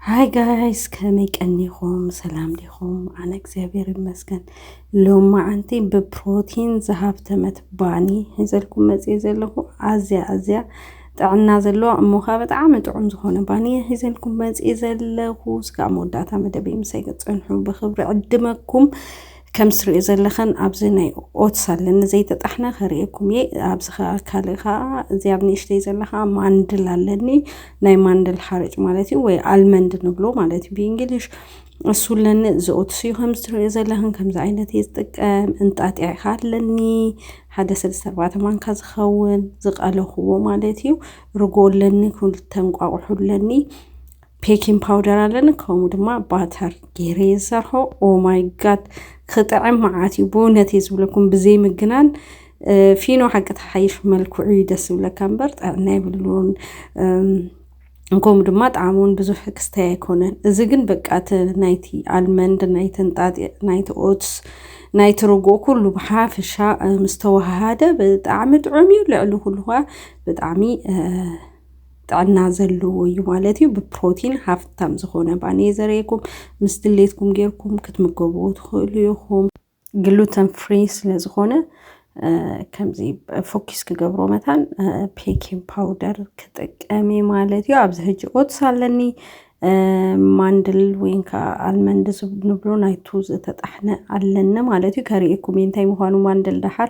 ሃይ ጋይስ ከመይ ቀኒኹም ሰላም ዲኹም? ኣነ እግዚኣብሔር ይመስገን ሎማዓንቲ ብፕሮቲን ዝሃብተመት ባኒ ሒዘልኩም መፅየ ዘለኹ ኣዝያ ኣዝያ ጥዕና ዘለዋ እሞ ከዓ ብጣዕሚ ጥዑም ዝኾነ ባኒ ሒዘልኩም መፅየ ዘለኹ እስካብ መወዳእታ መደበይ ምሳይ ክፀንሑ ብክብሪ ዕድመኩም ከም ትሪኦ ዘለኸን ኣብዚ ናይ ኦትስ ኣለኒ ዘይተጣሕነ ከርእየኩም እየ ኣብዚ ከኣ ካልእ ከኣ እዚ ኣብ ንእሽተይ ዘለ ከኣ ማንድል ኣለኒ ናይ ማንድል ሓርጭ ማለት እዩ ወይ ኣልመንድ ንብሎ ማለት እዩ ብእንግሊሽ እሱ ኣለኒ እዚ ኦትስ እዩ ከም ትሪኦ ዘለኽን ከምዚ ዓይነት እየ ዝጥቀም እንጣጢዕ ከ ኣለኒ ሓደ ሰለስተ ኣርባዕተ ማንካ ዝኸውን ዝቐለኽዎ ማለት እዩ ርጎ ኣለኒ ክልተ እንቋቑሖ ኣለኒ ፔኪን ፓውደር ኣለኒ ከምኡ ድማ ባተር ገይረ ዝሰርሖ ኦማይ ጋድ ክጥዕም መዓት እዩ ብእውነት እየ ዝብለኩም ብዘይ ምግናን ፊኖ ሓቂ ተሓይሽ መልክዑ እዩ ደስ ዝብለካ እምበር ጥዕና የብሉን ከምኡ ድማ ጣዕሚ እውን ብዙሕ ክስተይ ኣይኮነን እዚ ግን በቃ ናይቲ ኣልመንድ ናይቲ ንጣጢ ናይቲ ኦትስ ናይቲ ርጉኦ ኩሉ ብሓፈሻ ምስተዋሃሃደ ብጣዕሚ ጥዑም እዩ ልዕሊ ኩሉ ብጣዕሚ ጥዕና ዘለዎ እዩ ማለት እዩ። ብፕሮቲን ሃፍታም ዝኾነ ባኒ እዩ ዘርእየኩም። ምስ ድሌትኩም ጌርኩም ክትምገብዎ ትኽእሉ ኢኹም። ግሉተን ፍሪ ስለ ዝኾነ ከምዚ ፎኪስ ክገብሮ መታን ፔኪን ፓውደር ክጥቀም ማለት እዩ ኣብዚ ሕጂ ኦትስ ኣለኒ ማንድል ወይን ከዓ ኣልመንድ ንብሎ ናይቱ ዝተጣሕነ ኣለኒ ማለት እዩ ከርእኩም እዩ እንታይ ምዃኑ ማንድል ደሓር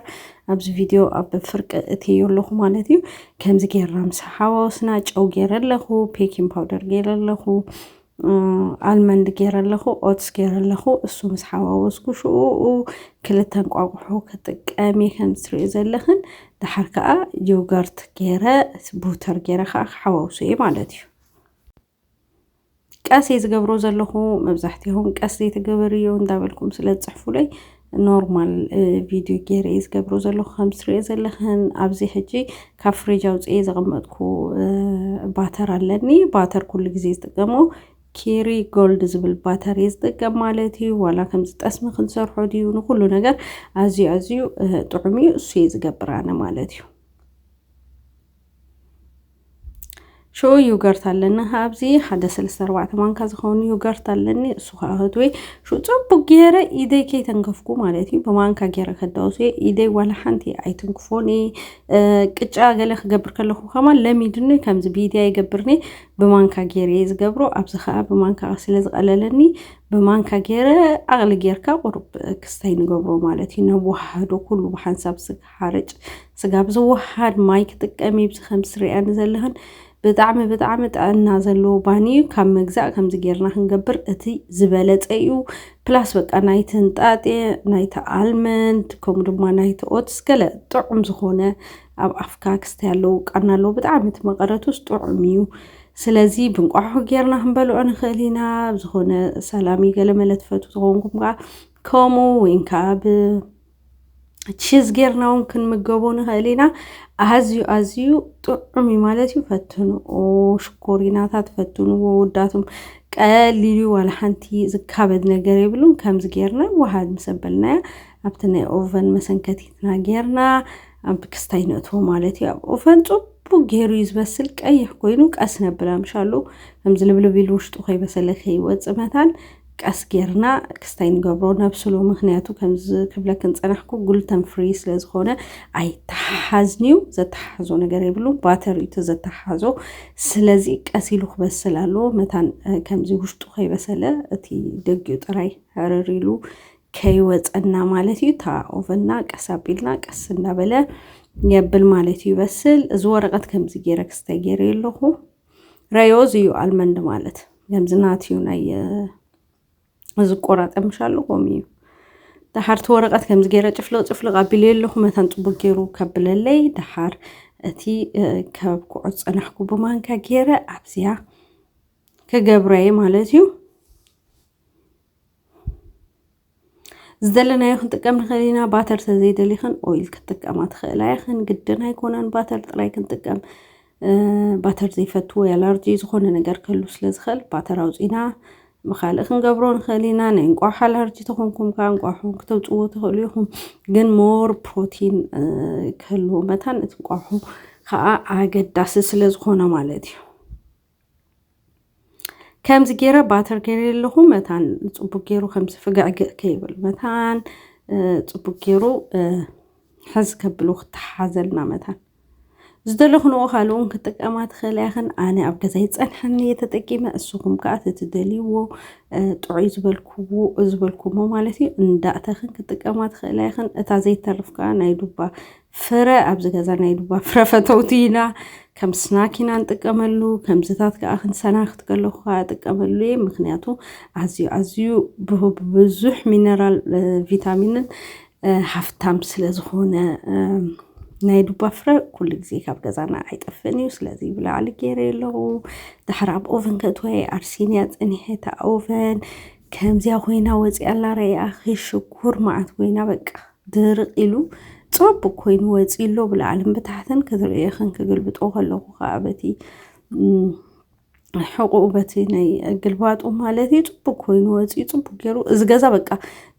ኣብዚ ቪድዮ ኣብ ፍርቂ እትዮ ኣለኹ ማለት እዩ ከምዚ ጌርና ምስ ሓዋወስና ጨው ገይረ ኣለኹ ፔኪን ፓውደር ገይረ ኣለኹ ኣልመንድ ገይረ ኣለኹ ኦትስ ገይረ ኣለኹ እሱ ምስ ሓዋወስኩ ሽኡኡ ክልተ እንቋቑሖ ክጥቀም እየ ከም ትሪኦ ዘለኽን ደሓር ከዓ ዮገርት ገይረ ቡተር ገይረ ከዓ ክሓዋውሶ እየ ማለት እዩ ቀስ እየ ዝገብሮ ዘለኹ መብዛሕትኦም ቀስ ዘይተገበርዮ እንዳበልኩም ስለ ዝፅሕፉለይ ኖርማል ቪድዮ ገይረ እየ ዝገብሮ ዘለኹ ከም ትሪኦ ዘለኽን ኣብዚ ሕጂ ካብ ፍሪጅ ኣውፅኤ ዘቐመጥኩ ባተር ኣለኒ ባተር ኩሉ ግዜ ዝጥቀሞ ኬሪ ጎልድ ዝብል ባተር እየ ዝጥቀም ማለት እዩ ዋላ ከምዚ ጠስሚ ክንሰርሖ ድዩ ንኩሉ ነገር ኣዝዩ ኣዝዩ ጥዑም እዩ እሱ እየ ዝገብር ኣነ ማለት እዩ ሽዑ ዩገርት ኣለኒ ኣብዚ ሓደ ሰለስተ ኣርባዕተ ማንካ ዝኸውን ዩገርት ኣለኒ እሱ ከዓ ህትዌ ሽዑ ፅቡቅ ገይረ ኢደይ ከይተንከፍኩ ማለት እዩ ብማንካ ገይረ ከዳውስ እየ ኢደይ ዋላ ሓንቲ ኣይትንክፎን እየ እ፣ ቅጫ ገለ ክገብር ከለኹ ከማ ለሚድኒ ከምዚ ቢድያ ይገብርኒ ብማንካ ገይረ እየ ዝገብሮ ኣብዚ ከዓ ብማንካ ስለ ዝቐለለኒ ብማንካ ገይረ ዓቕሊ ጌርካ ቁሩብ ክስታይ ንገብሮ ማለት እዩ ነወሃህዶ ኩሉ ብሓንሳብ ስጋ ሓርጭ ስጋ ብዝወሃድ ማይ ክጥቀም ይብዚ ከምዚ ትሪኣኒ ዘለኽን ብጣዕሚ ብጣዕሚ ጥዕና ዘለዎ ባኒ እዩ ካብ ምግዛእ ከምዚ ጌርና ክንገብር እቲ ዝበለፀ እዩ ፕላስ በቃ ናይቲ ህንጣጤ ናይቲ ኣልመንድ ከምኡ ድማ ናይቲ ኦትስ ገለ ጥዑም ዝኾነ ኣብ ኣፍካ ክስተ ያለው ቃና ኣለዎ ብጣዕሚ እቲ መቐረቱስ ጥዑም እዩ ስለዚ ብንቋሖ ጌርና ክንበልዖ ንኽእል ኢና ዝኾነ ሰላሚ ገለመለ ትፈቱ ዝኾንኩም ከዓ ከምኡ ወይን ከዓ ብ ቺዝ ጌርና እውን ክንምገቦ ንኽእል ኢና ኣዝዩ ኣዝዩ ጥዑም እዩ ማለት እዩ ፈትንዎ ሽኮሪናታት ፈትንዎ ውዳቱም ቀሊሉ ዋላ ሓንቲ ዝካበድ ነገር የብሉን ከምዚ ጌርና ዋሃድ ምስ ኣበልናያ ኣብቲ ናይ ኦቨን መሰንከቲትና ጌርና ኣብ ክስታይ ነእትዎ ማለት እዩ ኣብ ኦቨን ፅቡቅ ገይሩ እዩ ዝበስል ቀይሕ ኮይኑ ቀስ ነብላ ምሻሉ ከምዚ ልብልብ ኢሉ ውሽጡ ከይበሰለ ከይወፅእ መታን ቀስ ጌርና ክስታይ ንገብሮ ነብስሎ ምክንያቱ ከምዚ ክብለክን ፀናሕኩ ጉልተን ፍሪ ስለ ዝኾነ ኣይተሓሓዝንዩ ዘተሓሓዞ ነገር የብሉ ባተር እዩ ተዘተሓሓዞ ስለዚ ቀስ ኢሉ ክበስል ኣለዎ መታን ከምዚ ውሽጡ ከይበሰለ እቲ ደጊኡ ጥራይ ሕርር ኢሉ ከይወፀና ማለት እዩ እታ ኦቨና ቀስ ኣቢልና ቀስ እንዳበለ የብል ማለት እዩ ይበስል እዚ ወረቐት ከምዚ ገይረ ክስተ ገይረ ኣለኹ ረዮዝ እዩ ኣልመንድ ማለት ከምዚ ናት እዩ ናይ እዚ ቆራጠምሻሉ ኮም እዩ ደሓርቲ ወረቐት ከምዚ ገይረ ጭፍልቕ ጭፍልቕ ኣቢለ ኣለኹ መታን ፅቡቅ ገይሩ ከብለለይ ደሓር እቲ ካብ ኩዖ ፀናሕኩ ብማንካ ገይረ ኣብዚያ ክገብረየ ማለት እዩ ዝደለናዮ ክንጥቀም ንኽእል ኢና ባተር ተዘይደሊኽን ኦይል ክትጥቀማ ትኽእላ ኢኽን ግድን ኣይኮነን ባተር ጥራይ ክንጥቀም ባተር ዘይፈቱ ወይ ኣላርጂ ዝኾነ ነገር ክህሉ ስለ ዝኽእል ባተር ኣውፂና ብካልእ ክንገብሮ ንኽእል ኢና ናይ እንቋሕ ኣላርጂ ተኾንኩም ከዓ እንቋሑ ክተውፅዎ ትኽእሉ ኢኹም ግን ሞር ፕሮቲን ክህልዎ መታን እቲ እንቋሑ ከዓ ኣገዳሲ ስለ ዝኾነ ማለት እዩ ከምዚ ገይረ ባተር ገይረ ኣለኹ መታን ፅቡቅ ገይሩ ከምዚ ፍግዕግዕ ከይብል መታን ፅቡቅ ገይሩ ሕዝ ከብሉ ክተሓሓዘልና መታን ዝደለኹንዎ ካልእ እውን ክጥቀማ ትኽእል ያኽን ኣነ ኣብ ገዛይ ፀንሐኒ እየ ተጠቂመ እስኹም ከዓ ተትደልይዎ ጥዑይ ዝበልክዎ ዝበልኩሞ ማለት እዩ እንዳእተኽን ክጥቀማ ትኽእል ያኽን እታ ዘይተርፍ ከዓ ናይ ዱባ ፍረ ኣብዚ ገዛ ናይ ዱባ ፍረ ፈተውቲ ኢና ከም ስናክ ኢና ንጥቀመሉ ከምዝታት ከዓ ክንሰናክት ከለኩ ከዓ እጥቀመሉ እየ ምክንያቱ ኣዝዩ ኣዝዩ ብዙሕ ሚነራል ቪታሚንን ሃፍታም ስለዝኮነ ናይ ዱባ ፍረ ኩሉ ግዜ ካብ ገዛና ኣይጠፍእን እዩ ስለዚ ብላዕሊ ገይረ ኣለኹ ድሓር ኣብ ኦቨን ከእትወየ ኣርሲንያ ፀኒሐታ ኦቨን ከምዚያ ኮይና ወፂኣ ኣላ ረኣ ሽኩር መዓት ኮይና በቃ ድርቕ ኢሉ ጸቡቕ ኮይኑ ወጺኡ ኣሎ ብላዕልን ብታሕትን ክትርእዮ ኽን ክግልብጦ ከለኹ ከዓ በቲ ሕቑኡ በቲ ናይ ግልባጡ ማለት እዩ ፅቡቅ ኮይኑ ወፂኡ ፅቡቅ ገይሩ እዚ ገዛ በቃ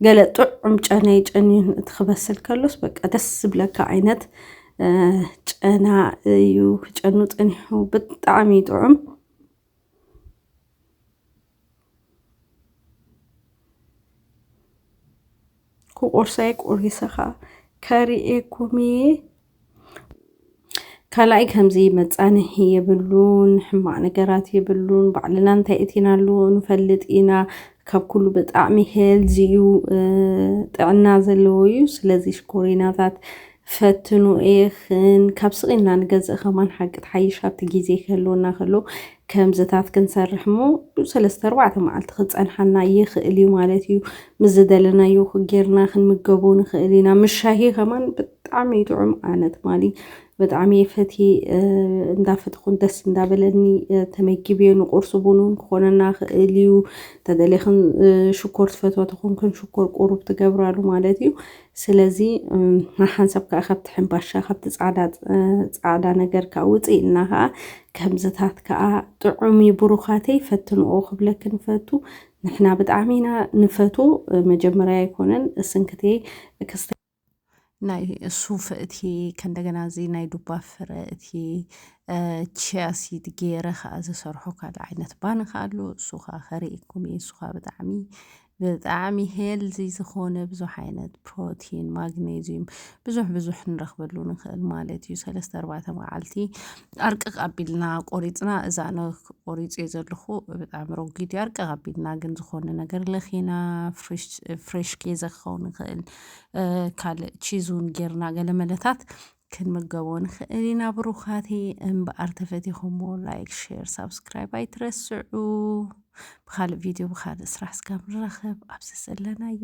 ገለ ጥዑም ጨና ጨንዩን እቲ ክበስል ከሎስ በቃ ደስ ዝብለካ ዓይነት ጨና እዩ ክጨኑ ፀኒሑ ብጣዕሚ ጥዑም ክቁርሰይ ቁሪሰኻ ከርእየኩም እየ ካልኣይ ከምዚ መፃንሒ የብሉን ሕማቅ ነገራት የብሉን ባዕልና እንታይ እቲና ኣለዎ ንፈልጥ ኢና ካብ ኩሉ ብጣዕሚ ሄልዚ እዩ ጥዕና ዘለዎ እዩ ስለዚ ሽኮሪናታት ፈትኑ እየክን ካብ ስቂልና ንገዝእ ከማን ሓቂ ትሓይሽ ኣብቲ ግዜ ክህልወና ከሎ ከምዝታት ክንሰርሕ እሞ ሰለስተ ኣርባዕተ መዓልቲ ክጸንሓና ይክእል እዩ ማለት እዩ ምስ ዝደለናዮ ጌርና ክንምገቦ ንክእል ኢና ምስ ሻሂ ከማን ብጣዕሚ እዩ ጥዑም ኣነ ትማሊ ብጣዕሚ እየ ፈትየ እንዳፈተኹን ደስ እንዳበለኒ ተመጊብዮ ንቁርሲ ቡን እውን ክኾነና ክእል እዩ ተደሊኽን ሽኮር ትፈትዋ ተኾንክን ሽኮር ቁሩብ ትገብራሉ ማለት እዩ ስለዚ ሓንሳብ ከኣ ካብቲ ሕንባሻ ካብቲ ጻዕዳ ጻዕዳ ነገር ከኣ ውጽእ ኢልና ከኣ ከምዝታት ከኣ ጥዑም እዩ ብሩኻተይ ፈትንኦ ክብለኪ ንፈቱ ንሕና ብጣዕሚ ኢና ንፈቱ መጀመርያ ኣይኮነን እስንክቴ ክስተ ናይ ሱፍ እቲ ከእንደገና እዚ ናይ ዱባ ፍረ እቲ ቺያሲድ ገይረ ከዓ ዝሰርሖ ካልእ ዓይነት ባን ከዓ ኣሎ እሱ ከዓ ከርእየኩም እየ እሱ ከዓ ብጣዕሚ ብጣዕሚ ሄልዚ ዝኾነ ብዙሕ ዓይነት ፕሮቲን ማግኔዚዩም ብዙሕ ብዙሕ ንረኽበሉ ንኽእል ማለት እዩ ሰለስተ ኣርባዕተ መዓልቲ ኣርቅቕ ኣቢልና ቆሪፅና እዛ ነ ቆሪፅ እየ ዘለኹ ብጣዕሚ ረጒድ እዩ ኣርቅቕ ኣቢልና ግን ዝኾነ ነገር ለኺና ፍሬሽ ኬዘ ክኸውን ንኽእል ካልእ ቺዙን ጌርና ገለመለታት ክንምገቦ ንኽእል ኢና ብሩኻተይ እምበኣር ተፈቲኹሞ ላይክ ሼር ሳብስክራይብ ኣይትረስዑ ብካልእ ቪድዮ ብካልእ ስራሕ ስጋብ ንራኸብ ኣብዚ ዘለናዮ